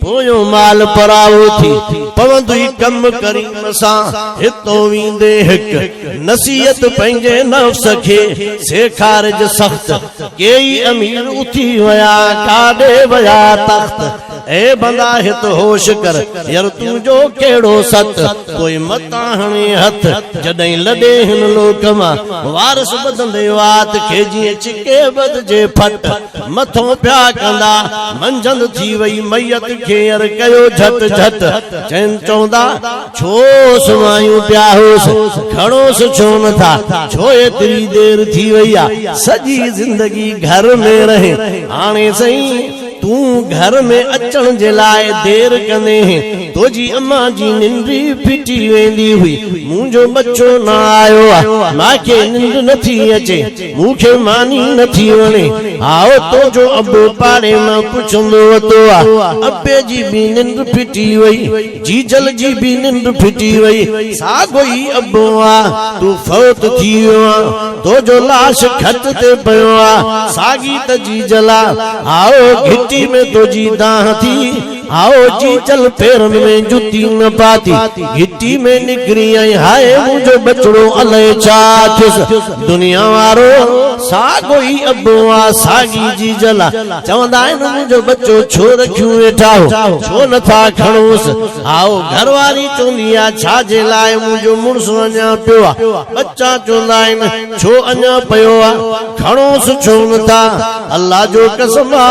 پويون مال پراوو ٿي پوندوئي ڪم ڪريم سان هتون ويندي هڪ نصيحت پنهنجي نفس کي سيکارج سخت ڪيئي امير اٿي ويا ڪاڏي ويا تخت اي بندا هت هوش ڪر ير تون جو ڪهڙو ست پوء متان هڻي هٿ جڏهن لڏي هن لوڪ مان وارث ٻڌندي وات کي جيئن ڇڪي ٻڌجي ڦٽ. مٿو پيا ڪندا، منجهند ٿي وئي ميت ڪيئر ڪيو جهٽ جهٽ، چين چوندا ڇو سمهايون پيا هوس، کڻوس ڇو نه ٿا، ڇو ايتري دير ٿي وئي آ، سڄي زندگي گهر ۾ رهي، هاڻي سائين تون گهر ۾ اچڻ جي لاء دير ڪندينء، توجي اما جي ننڊ ئي ڦٽي ويندي هئي، منهنجو ٻچو نه آيو آ، ماکي ننڊ نه ٿي اچي. مون کي ماني نه ٿي وڻي ها تنهنجو ابو پاڙي مان پڇندو وتو آ. ابي جي به ننڊ ڦٽي وئي. جيجل جي به ننڊ ڦٽي وئي. ساڳو ئي ابو آ. تون فوت ٿي ويو آن. تنهنجو لاش کٽ تي پيو آ. ساڳي ته جيجل آ. هائو، گهٽي ۾ تنهنجي دانهن ٿي. هائو جي چل پيرن ۾ جتي نه پاتي گهٽي ۾ نڪري ۽ هائي منهنجو ٻچڙو الائي ڇا ٿيس دنيا وارو ساڳو ئي ابو آ ساڳي جيجل آ چوندا آهن منهنجو ٻچو ڇو رکيون ويٺا هو ڇو نه ٿا کڻوس هائو گهر واري چوندي آ ڇا جي لاء منهنجو مڙس اڃا پيو آ ٻچا چوندا آهن ڇو اڃا پيو آ کڻوس ڇو نه ٿا الله جو قسم آ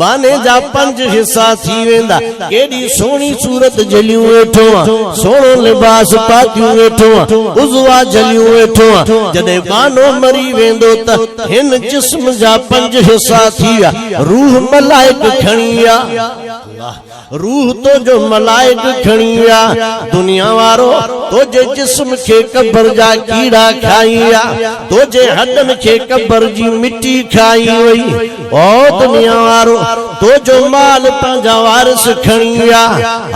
ٻانهي جا پنج حصا ٿي ويندا. ڪيڏي سهڻي صورت جهليون ويٺو هان. سهڻو لباس پاتيون ويٺو هان. عضوا جهليون ويٺو هان. جڏهن ٻانهو مري ويندو ته هن جسم جا پنج حصا ٿي ويا. روح ملائڪ کڻي ويا. روح تنهنجو ملائڪ کڻي ويا. دنيا وارو تنهنجي جسم کي قبر جا ڪيڙا کائي ويا. تنهنجي هڏن کي قبر جي مٽي کائي وئي. او دنيا وارو تنهنجو مال پنهنجا وارث کڻي ويا.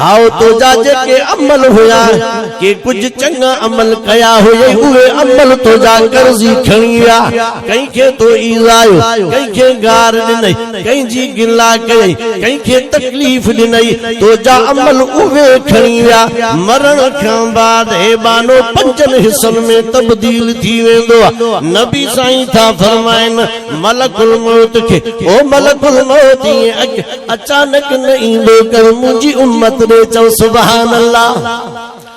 هائو، تنهنجا جيڪي عمل هيا، ڪي ڪجهه چڱا عمل ڪيا هيئي، اهي عمل تنهنجا قرضي کڻي ويا. ڪنهن کي تو ايذايو، ڪنهن کي گار ڏنئي. ڪنهن جي گلا ڪيئي ڪنهن کي تڪليف ڏنئي تنهنجا عمل اهي کڻي ويا مرڻ کان بعد هي ٻانهو پنجن حصن ۾ تبديل ٿي ويندو نبي سائين ٿا فرمائن ملڪ الموت کي او ملڪ الموت ائين اڳ اچانڪ نه ايندو ڪر منهنجي امت ڏي چئو سبحان الله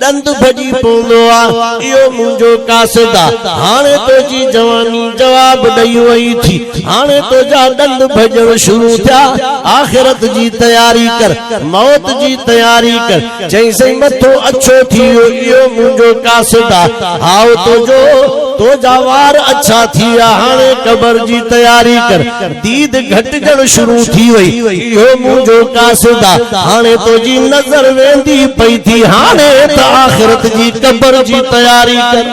ڏند ڀڄي پوندو آ، اهو منهنجو قاصد آ، هاڻي تنهنجي جواني جواب ڏئي وئي ٿي، هاڻي تنهنجا ڏند ڀڄڻ شروع ٿيا، آخرت جي تياري ڪر، موت جي تياري ڪر، چيائين سائين مٿو اڇو ٿي ويو، اهو منهنجو قاصد آ، هائو تنهنجو، تنهنجا وار اڇا ٿي ويا، هاڻي قبر جي تياري ڪر. ديد گهٽجڻ شروع ٿي وئي. اهو منهنجو قاصد آ. هاڻي تنهنجي نظر ويندي پئي ٿي. هاڻي ته آخرت جي قبر جي تياري ڪر.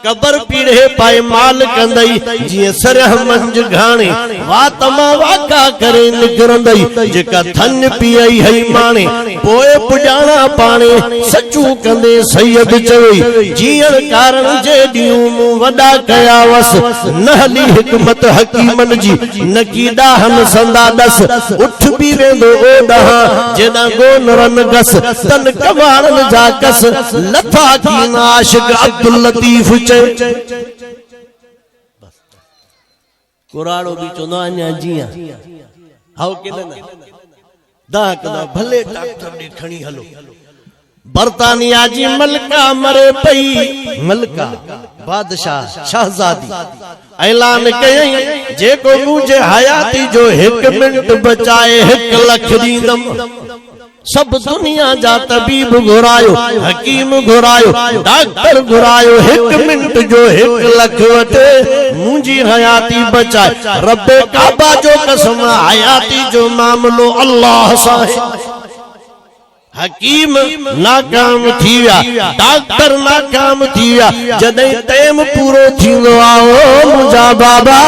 قبر پيڙهي پائمال ڪندئي. جيئن سرهه منجهه گهاڻي وات مان واڪا ڪري نڪرندئي. جيڪا ٿڃ پيئي هئي ماڻي. پوء پڄاڻا پاڻي سچون ڪندي سيد چوي، جيئڻ ڪارڻ جي ڏينهون مون وڏا ڪيا وس، نه هلي حڪمت حڪيمن جي نڪي ڏاهن سندا ڏس، اٺ به ويندو او ڏانهن جيڏانهن گو نه رن گس، تن ڪنواڙن جا ڪس لٿا ڪين عاشق عبداللطيف چئي. ڪراڙو به چوندو آهي اڃا جيئان هائو ڪي نه نه دانهن ڪندو آهي ڀلي ڊاڪٽر ڏي کڻي هلو برطانيا جي ملڪه مري پئي ملڪه بادشاهه شهزادي اعلان ڪيائين جيڪو منهنجي حياتي جو هڪ منٽ بچائي هڪ لک ڏيندم سڀ دنيا جا طبيب گهرايو، حڪيم گهرايو، ڊاڪٽر گهرايو، هڪ منٽ جو هڪ لک وٺي منهنجي حياتي بچاء. رب ڪعبه جو قسم حياتي جو معاملو الله سان آهي. حڪيم ناڪام ٿي ويا، ڊاڪٽر ناڪام ٿي ويا، جڏهن ٽيم پورو ٿيندو آهي، او منهنجا بابا!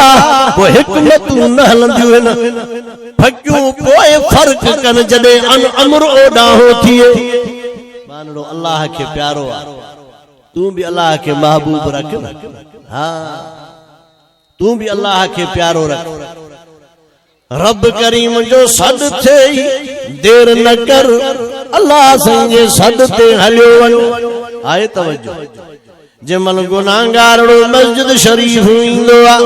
پوء حڪمتون نه هلنديون آهن. ڀڳيون پوء فرق ڪن جڏهن ان امر اوڏاهو ٿئي. ٻانهڙو الله کي پيارو آ تون به الله کي محبوب رک نه ها تون به الله کي پيارو رک رب ڪريم جو سڏ ٿئي دير نه ڪر الله سائين جي سڏ تي هليو وڃ آهي توجه. جنهن مهل گنهگارڙو مسجد شريف ايندو آ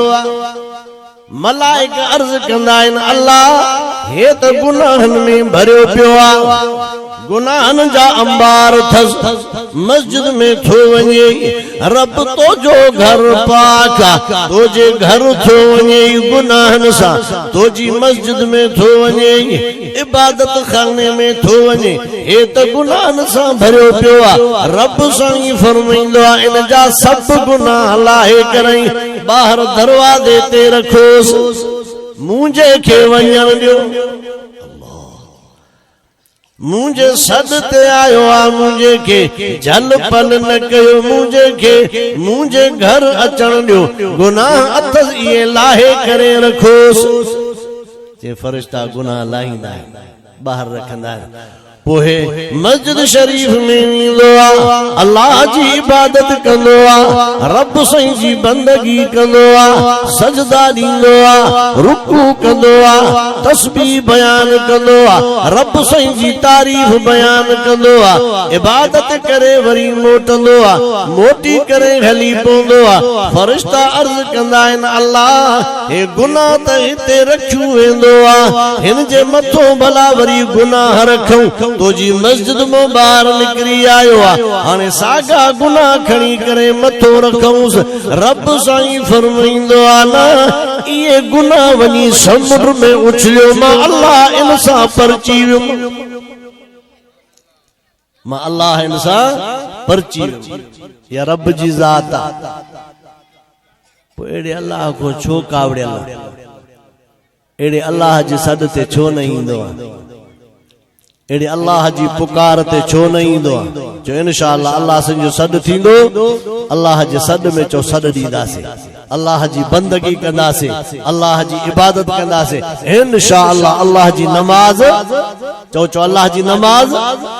ملائڪ عرض ڪندا آهن الله هي ته گناهن ۾ ڀريو پيو آ گناهن جا انبار اٿس مسجد ۾ ٿو وڃي رب تو جو گهر پاڪ آ تو جي گهر ٿو وڃي گناهن سان تو جي مسجد ۾ ٿو وڃي عبادت خاني ۾ ٿو وڃي هي ته گناهن سان ڀريو پيو آ رب سائين فرمائيندو آ ان جا سڀ گناهه لاهي ڪرائين ٻاهر دروازي تي رکوس منهنجي کي وڃڻ ڏيو منهنجي سڏ تي آيو آ منهنجي کي جهل پل نه ڪيو منهنجي کي منهنجي گهر اچڻ ڏيو گناهه اٿس اهي لاهي ڪري رکوس جي فرشتا گناهه لاهيندا آهن ٻاهر رکندا آهن پوء مسجد شريف ۾ ويندو آ الله جي عبادت ڪندو آ رب سائين جي بندگي ڪندو آ سجدا ڏيندو آ رڪوع ڪندو آ تسبيح بيان ڪندو آ رب سائين جي تعريف بيان ڪندو آ عبادت ڪري وري موٽندو آ موٽي ڪري هلي پوندو آ فرشتا عرض ڪندا آهن الله هي گناهه ته هتي رکيو ويندو آ، هن جي مٿون ڀلا وري گناهه رکون، تو جي مسجد مان ٻاهر نڪري آيو آ، هاڻي ساڳا گناهه کڻي ڪري مٿو رکئونس، رب سائين فرمائيندو آ نه اهي گناهه وڃي سمنڊ ۾ اڇليو مان الله ان سان پرچي ويم. مان الله هن سان پرچي ويم يا رب جي ذات آ پوء اهڙي الله کان ڇو ڪاوڙيل آ اهڙي الله جي سڏ تي ڇو نه ايندو آ اهڙي الله جي پڪار تي ڇو نه ايندو آ جو انشاءالله الله سن جو سڏ ٿيندو الله جي سڏ ۾ چو سڏ ڏينداسي الله جي بندگي ڪنداسي الله جي عبادت ڪنداسي انشاءالله الله جي نماز چو چو الله جي نماز